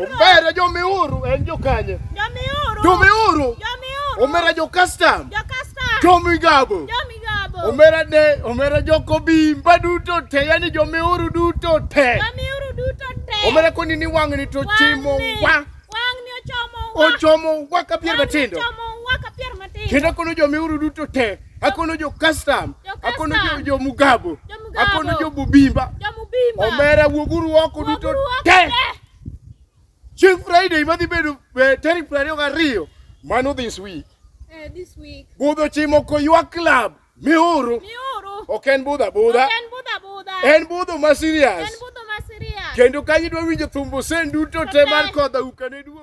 Omera jomiuru en jokanye? Jomiuru. Jomiuru. Jomiuru. Omera jo custom. Jo custom. Jomigabu. Jomigabu. Omera de omera joko bimba duto te yani jomiuru duto te. Jomiuru duto te. Omera koni ni wang'ni to chimo wa. Wang'ni ochomo wa. Ochomo wa ka pier matindo. Wang'ni ochomo wa ka pier matindo. Kendo kono jomiuru duto te. akono jo custom akono jo, jo mugabu akono jo bubimba omera wuoguru oko duto te chieng friday madhi bedo eh, tarik piero ariyo gariyo mano this week eh, this week budho chimo koywa club miuru ok en budha budha en budho ma serious kendo kanyo idwa winjo thumbo sen duto te mar kodha ukane duo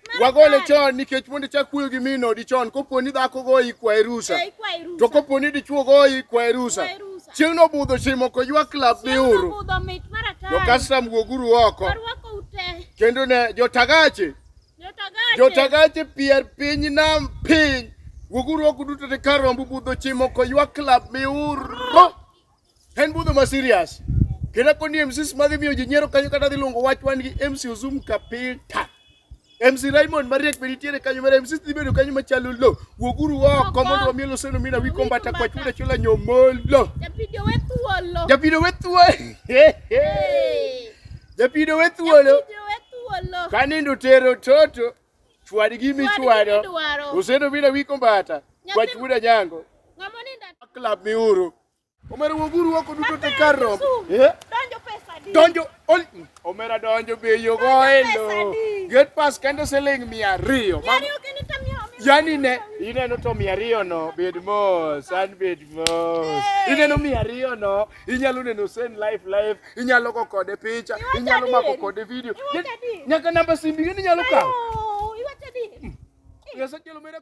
wagole chon nikech mondo ichak kuyo gi mino odi chon kopo ni dhako goyi kwaye rusa eh, to kopo ni dichuo goyi kwaye rusa chieng' nobudho chieng' moko ywa klab biuru jokastam wuoguru oko kendo ne jotagache jotagache pier piny nam piny wuoguru oko duto te kar rombu budho chieng' moko ywa klab miuru En budho ma serious. Kena koni MCs madhi miyo ji nyiero kanyo kata dhi luongo wach wan gi MC Ozum Kapita. MC Raymond Mariek be nitiere kanyo mara MC dhi bedo kanyo machalo lo. Wuoguru oko mondo wamiel oseno mina wi kombata kwa chuda chula nyomolo. Japido we thuolo. Japido we thuolo. Japido we thuolo. Kanindo tero toto chwad gi michwado. Oseno mina wi kombata kwa chuda nyango. Club miuru. Omera wuoguru oko duto te kar romo. Eh? Donjo pesa di. Donjo ol Omera donjo be yo go elo. Get pass kende siling 200. Mago Yari oke ni tamio. Yani ne ineno to mia ariyo no bed mos an bed mos ineno mia ariyo no inyalo neno sen life life inyalo go kode picha Iwacho inyalo mako adieri. kode video Iwacho adieri. nyaka namba simbi gini inyalo kawo Ayo, iwacho di. Nyasaye kelo mera